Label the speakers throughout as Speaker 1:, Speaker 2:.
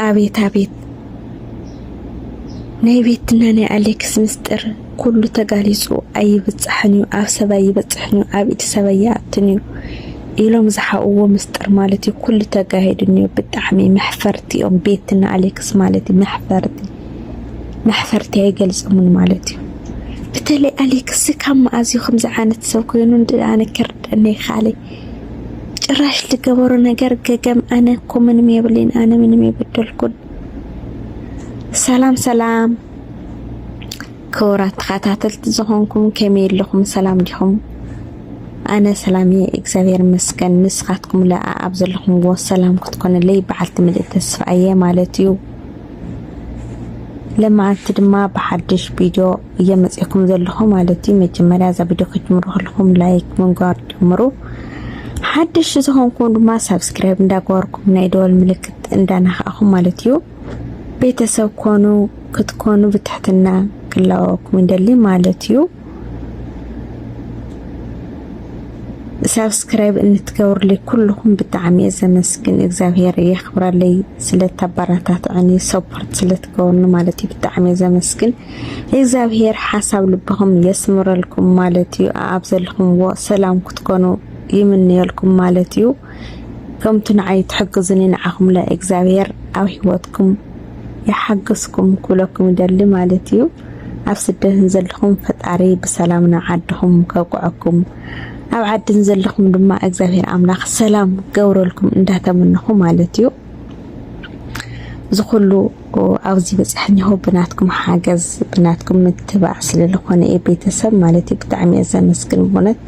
Speaker 1: ኣቤት ኣቤት ናይ ቤትና ናይ ኣሌክስ ምስጢር ኩሉ ተጋሊጹ ኣይብጻሕን እዩ ኣብ ሰብ ኣይበጽሕን እዩ ኣብ ኢድ ሰብ ኣይኣትን እዩ ኢሎም ዝሓኡዎ ምስጢር ማለት እዩ ኩሉ ተጋሂዱን እዩ ብጣዕሚ መሕፈርቲ እዮም ቤትና ኣሌክስ ማለት እዩ መሕፈርቲ መሕፈርቲ ኣይገልጽሙን ማለት እዩ በተለይ ኣሌክስ ካብ መኣዝዩ ከምዚ ዓይነት ሰብ ኮይኑ ኣነ ከርደነ ይካለይ ጭራሽ ዝገበሮ ነገር ገገም ኣነ እኮ ምንም የብሌን ኣነ ምንም የበደልኩን። ሰላም ሰላም ክቡራት ተኸታተልቲ ዝኾንኩም ከመይ ኣለኹም? ሰላም ዲኹም? ኣነ ሰላም እየ እግዚኣብሔር ይመስገን። ንስኻትኩም ለኣ ኣብ ዘለኹምዎ ሰላም ክትኮነለይ በዓልቲ ምልእቲ ተስፋ እየ ማለት እዩ። ለማዓንቲ ድማ ብሓድሽ ቪድዮ እየ መፅእኩም ዘለኹ ማለት እዩ መጀመርያ እዛ ቪድዮ ክትጅምሩ ከለኹም ላይክ ምንጓር ጀምሩ ሓደሽ ዝኾንኩም ድማ ሳብስክራይብ እንዳገበርኩም ናይ ደወል ምልክት እንዳናኻእኹም ማለት እዩ ቤተሰብ ኮኑ ክትኮኑ ብትሕትና ክላወኩም እንደሊ ማለት እዩ ሳብስክራይብ እንትገብርልይ ኩልኹም ብጣዕሚ እየ ዘመስግን እግዚኣብሄር የኽብረለይ ስለተበረታትዕኒ ሰፖርት ስለትገብርኒ ማለት እዩ ብጣዕሚ እየ ዘመስግን እግዚኣብሄር ሓሳብ ልብኹም የስምረልኩም ማለት እዩ። ኣብ ዘለኹምዎ ሰላም ክትኮኑ ይምንየልኩም ማለት እዩ። ከምቲ ንዓይ ትሕግዙኒ ንዓኹም ለ እግዚኣብሄር ኣብ ሂወትኩም ይሓግዝኩም ክብለኩም ይደሊ ማለት እዩ። ኣብ ስደትን ዘለኹም ፈጣሪ ብሰላም ናብ ዓድኹም ከብቅዐኩም ኣብ ዓድን ዘለኹም ድማ እግዚኣብሄር ኣምላኽ ሰላም ገብረልኩም እንዳተመነኹ ማለት እዩ። እዚ ኩሉ ኣብዚ በጻሕኒሆ ብናትኩም ሓገዝ ብናትኩም ምትባዕ ስለ ዝኾነ እዩ ቤተሰብ ማለት እዩ ብጣዕሚ እየ ዘመስግን ብእውነት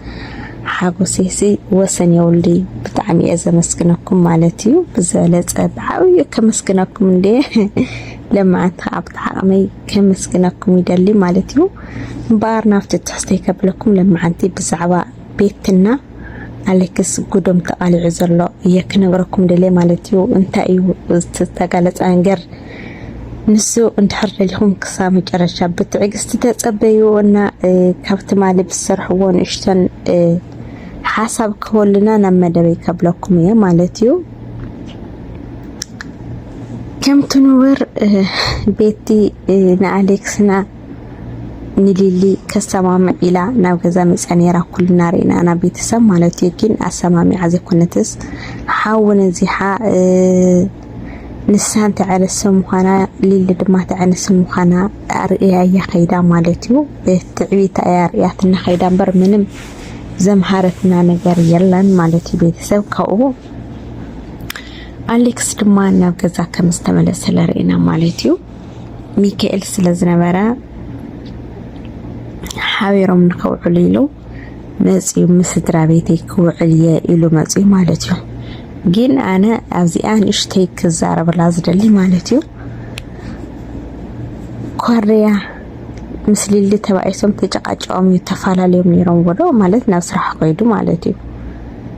Speaker 1: ሓጎሴሲ ወሰን የውልይ ብጣዕሚ እየ ዘመስግነኩም ማለት እዩ ብዝበለጸ ብዓብዩ ከመስግነኩም እንደ ለማዓንቲ ከዓ ብተዓቕመይ ከመስግነኩም ይደሊ ማለት እዩ እምበኣር ናብቲ ትሕዝተይ ከብለኩም ለማዓንቲ ብዛዕባ ቤትና ኣሌክስ ጉዶም ተቃሊዑ ዘሎ እየ ክነግረኩም ደልየ ማለት እዩ። እንታይ እዩ ዝተጋለፀ ነገር ንሱ እንድሕር ደሊኹም ክሳብ መጨረሻ ብትዕግስቲ ተፀበዩ እና ካብ ትማሊ ብዝሰርሕዎ ንእሽተን ሓሳብ ክህበሉና ናብ መደበይ ከብለኩም እየ ማለት እዩ። ከምቲ ንበር ቤቲ ንኣሌክስና ንሊሊ ከሰማምዕ ኢላ ናብ ገዛ መጽያ ነይራ ኩልና ርኢና ኢና ቤተሰብ ማለት እዩ ግን ኣሰማሚዓ ዘይኮነትስ ሓዊ ነዚሓ ንሳን ተዕርሲ ምዃና ሊሊ ድማ ተዕርሲ ምዃና ኣርእያ እያ ከይዳ ማለት እዩ ትዕቢታ እያ ኣርእያትና ከይዳ እምበር ምንም ዘምሃረትና ነገር የለን ማለት እዩ ቤተሰብ ካብኡ ኣሌክስ ድማ ናብ ገዛ ከም ዝተመለሰ ለርእና ማለት እዩ ሚካኤል ስለ ዝነበረ ሓቢሮም ንኸውዕሉ ኢሉ መፅዩ ምስ ስድራ ቤተይ ክውዕል እየ ኢሉ መፅዩ ማለት እዩ። ግን ኣነ ኣብዚኣ ንእሽተይ ክዛረብላ ዝደሊ ማለት እዩ ኮርያ ምስ ሊሊ ተባኢሶም ተጨቃጨቆም እዩ ተፈላለዮም ነይሮም ወዶ ማለት ናብ ስራሕ ኮይዱ ማለት እዩ።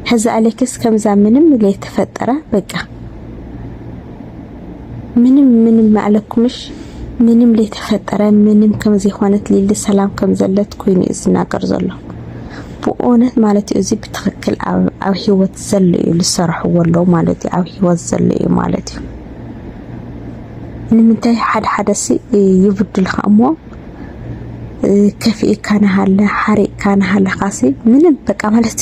Speaker 1: ሕዚ ኣሌክስ ከምዛ ምንም ዘይተፈጠረ በቃ ምንም ምንም ማዕለኩምሽ ምንም ለይተፈጠረ ምንም ከምዘይኮነት ሊሊ ሰላም ከምዘለት ኮይኑ እዩ ዝናገር ዘሎ ብእውነት ማለት እዩ እዚ ብትክክል ኣብ ሂወት ዘሎ እዩ ዝሰረሕዎ ኣለዉ ማለት እዩ ኣብ ሂወት ዘሎ እዩ ማለት እዩ ንምንታይ ሓደ ሓደ ሲ ይብድልካ እሞ ከፊእካ ናሃለ ሓሪቅካ ናሃለካሲ ምንም በቃ ማለት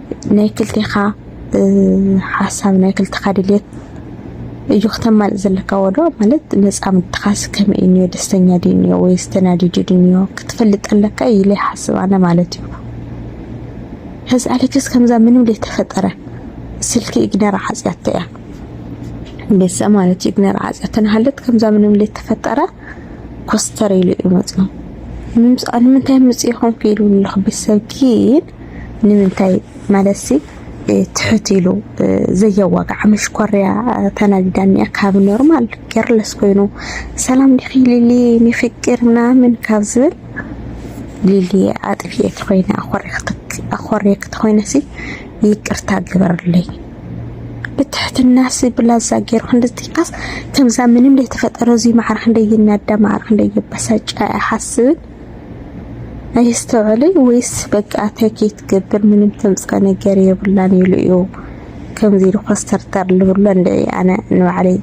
Speaker 1: ናይ ክልቴኻ ሓሳብ ናይ ክልቴኻ ድልየት እዩ ክተማልእ ዘለካ ወዶ ማለት መጻምድትኻስ ከመይ እኒኦ ደስተኛ ድዩ እኒኦ ወይስ ተናዲዱ ድዩ እኒኦ ክትፈልጥ ኣለካ ኢለ ይሓስብ ኣነ ማለት እዩ ሕዚ ኣሌክስ ከምዛ ምንም ዘይተፈጠረ ስልኪ ኢግነር ዓጽያቶ እያ ቤተሰብ ማለት እዩ ኢግነር ዓጽያቶ ንሃለት ከምዛ ምንም ዘይተፈጠረ ኮስተር ኢሉ እዩ መጽኡ ንምንታይ ምጽኢኹም ክኢሉ ኣለኹ ቤተሰብ ግን ንምንታይ ማለትሲ ትሕት ኢሉ ዘየዋግዓ መሽኮርያ ተናዲዳ እኒኣ ካብ ኖርማል ኬርለስ ኮይኑ ሰላም ዲኺ ሊሊ ሚፍቅር ምናምን ካብ ዝብል ሊሊ ኣጥፊኤ ተኮይነ ኣኮሬ ክትኮይነሲ ይቅርታ ግበርለይ ብትሕትና ሲ ብላዛ ገይሩ ክንድዚካስ ከምዛ ምንም ዘይተፈጠረ እዚ ማዕረ ክንደይ ይናዳ ማዕረ ክንደይ ይበሳጫ ኣይሓስብን ኣየስተውዕለይ ወይስ በቃ ኣትያ ከይትገብር ምንም ተምጽኦ ነገር የብላን ኢሉ እዩ ከምዚ ኢሉ ኮስተርተር ልብሎ እንድዒ ኣነ ንባዕለይ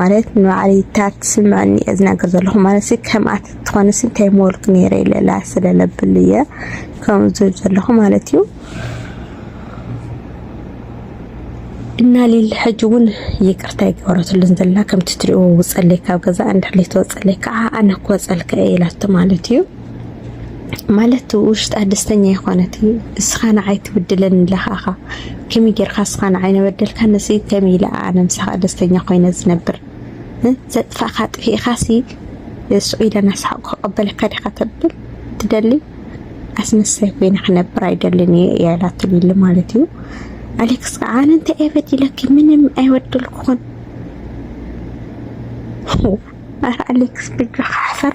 Speaker 1: ማለት ንባዕለይ እታ ትስምዐኒ እየ ዝናገር ዘለኹ ማለት ከምኣ ተትኾንስ እንታይ ምበልኩ ነይረ ኢለ ላስ ስለለብሉ እየ ከምኡ ዝብል ዘለኹ ማለት እዩ። እና ሊሊ ሕጂ እውን ይቅርታ ይገበረትሉን ዘላ ከምቲ ትሪእዎ ውፀለይ ካብ ገዛ እንድሕር ዘይተወፀለይ ከዓ ኣነ ክወፀልካ እየ ኢላቶ ማለት እዩ ማለት ውሽጣ ደስተኛ ይኮነት እዩ እስኻ ንዓይ ትብድለኒ ኣለኻ እኻ ከመይ ጌርካ እስኻ ንዓይ ነበደልካ ንስ ከመይ ኢለ ኣነ ምሳኻ ደስተኛ ኮይነ ዝነብር ዘጥፋእካ ጥፊእካ ሲ ስዑ ኢለ ናስሓቁ ክቀበለካ ዲኻ ተብል ትደሊ ኣስመሳይ ኮይነ ክነብር ኣይደልን እየ እያ ኢላቶ ሊሊ ማለት እዩ። ኣሌክስ ከዓ ኣነ እንታይ እየ በዲለኪ ምንም ኣይበደልኩኹን። ኧረ ኣሌክስ ብጃኻ ሓፈር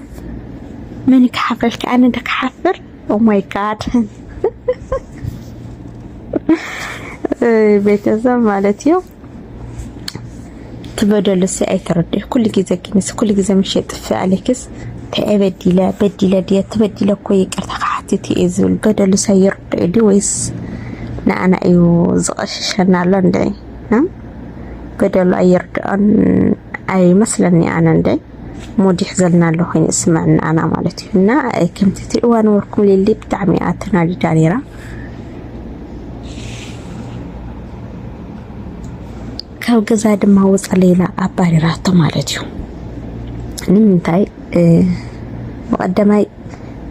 Speaker 1: መን ክሓፍረልካ ኣነ ዶ ክሓፍር ኦማይ oh ጋድ ቤተሰብ ማለት እዩ። ትበደልሲ ኣይተረድእ ኩሉ ግዜ ግንስ ኩሉ ግዜ ምሽ የጥፍ ኣሌክስ እንታይ በዲለ በዲለ ድየ ተበዲለ እኮ ይቅርታ ክሓትት እየ ዝብል በደሉስ ኣይርድኦ ድዩ ወይስ ንኣና እዩ ዝቐሽሸና ኣሎ እንደ በደሉ ኣይርድኦን ኣይመስለኒ ኣነ እንደ ሙድ ይሕዘልና ኣሎ ኮይኑ ዝስምዐኒ ኣና ማለት እዩ እና ከምቲ ትሪእዋ ነበርኩም ሊሊ ብጣዕሚ እያ ተናዲዳ ነይራ ካብ ገዛ ድማ ወፃ ሌላ ኣባሪራቶ ማለት እዩ ንምንታይ ብቀዳማይ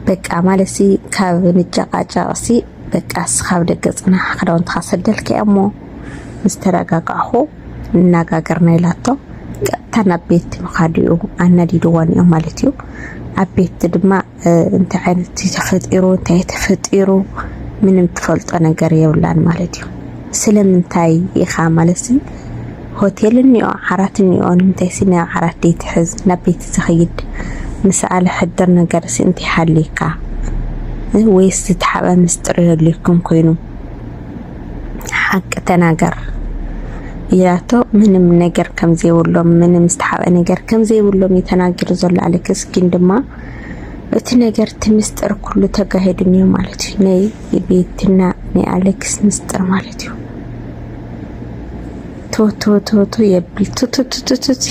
Speaker 1: በቃ ማለት ሲ ካብ ንጨቃጨቅ ሲ በቃ ስካብ ደገ ፅናሕ ክዳውንትካ ሰደልካ እሞ ምስ ተረጋጋዕኹ እናጋገርና ኢላቶ ቀጥታ ናብ ቤት ምኻድ እዩ ኣናዲድዋ ነይሩ ማለት እዩ። ኣብ ቤት ድማ እንታይ ዓይነት ተፈጢሩ እንታይ ተፈጢሩ ምንም ትፈልጦ ነገር የብላን ማለት እዩ። ስለምንታይ ኢኻ ማለት ሆቴል እኒኦ ዓራት እኒኦ ንምንታይ ሲ ናብ ዓራት ዘይትሕዝ ናብ ቤት ዝኸይድ ምስኣለ ሕድር ነገር ሲ እንታይ ሃልዩካ ወይስ ዝተሓበ ምስጢር የድልየኩም ኮይኑ ሓቂ ተናገር ኢላቶ ምንም ነገር ከም ዘይብሎም ምንም ዝተሓብአ ነገር ከም ዘይብሎም እዩ ተናጊሩ ዘሎ ኣሌክስ። ግን ድማ እቲ ነገር እቲ ምስጢር ኩሉ ተጋሂዱ እኒኦ ማለት እዩ ናይ ቤትና ናይ ኣሌክስ ምስጢር ማለት እዩ። ቶቶቶቶ የብል ቱቱቱቱቱት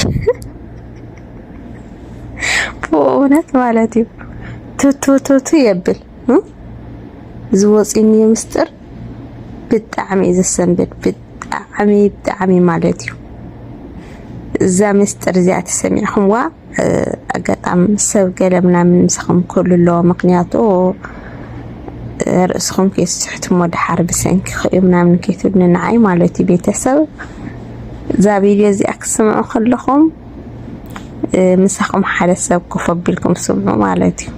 Speaker 1: ብእውነት ማለት እዩ ቶቶቶቶ የብል ዝወፅእኒዮ ምስጢር ብጣዕሚ እዩ ዘሰንብድ ብጣዕሚ ብጣዕሚ ማለት እዩ። እዛ ምስጢር እዚኣ ተሰሚዕኹምዋ ኣጋጣሚ ሰብ ገለ ምናምን ምሳኹም ክህሉ ኣለዎ ምክንያቱ ርእስኹም ከይስሕትሞ ድሓር ብሰንኪ ክዩ ምናምን ከይትብሉ ንዓይ ማለት እዩ ቤተሰብ እዛ ቪድዮ እዚኣ ክትስምዑ ከለኹም ምሳኹም ሓደ ሰብ ኮፍ ኣቢልኩም ስምዑ ማለት እዩ።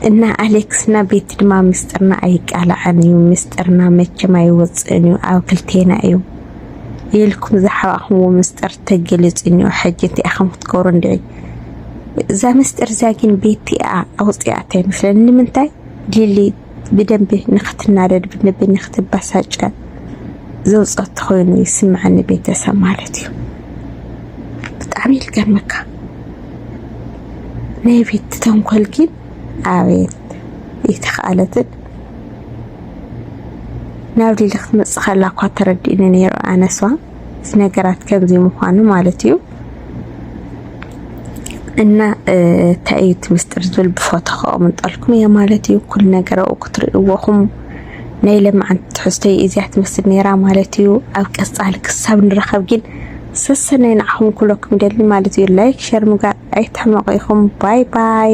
Speaker 1: እና ኣሌክስና ቤቲ ድማ ምስጥርና ኣይቃላዕን እዩ ምስጥርና መቸም ኣይወፅእን እዩ ኣብ ክልቴና እዩ ኢልኩም ዝሓባእክምዎ ምስጥር ተገሊፁ እኒኦ ሕጂ እንታይ ኢኹም ክትገብሩ እንድዒ እዛ ምስጥር እዚኣ ግን ቤቲ እያ ኣውፂኣታ ይመስለኒ ንምንታይ ሊሊ ብደንቢ ንክትናደድ ብደንቢ ንክትበሳጨ ዘውፀት ኮይኑ ይስምዐኒ ቤተሰብ ማለት እዩ ብጣዕሚ ይልገመካ ናይ ቤት ተንኮል ግን ኣቤት ይተኸኣለትን ናብ ሊሊ ክትመፅእ ከላ እኳ ተረዲእኒ ነይሩ ኣነስዋ እቲ ነገራት ከምዚ ምዃኑ ማለት እዩ እና እንታይ እዩ እቲ ምስጢር ዝብል ብፎቶ ከቕምጠልኩም እየ ማለት እዩ ኩሉ ነገር ኣብኡ ክትርእይዎኹም ናይ ለማዓንቲ ትሕዝቶይ እዚያ ትመስል ነይራ ማለት እዩ ኣብ ቀፃሊ ክሳብ ንረኸብ ግን ሰሰናይ ንዓኹም ክብለኩም ይደሊ ማለት እዩ ላይክ ሸር ምግባር ኣይትሕመቑ ኢኹም ባይ ባይ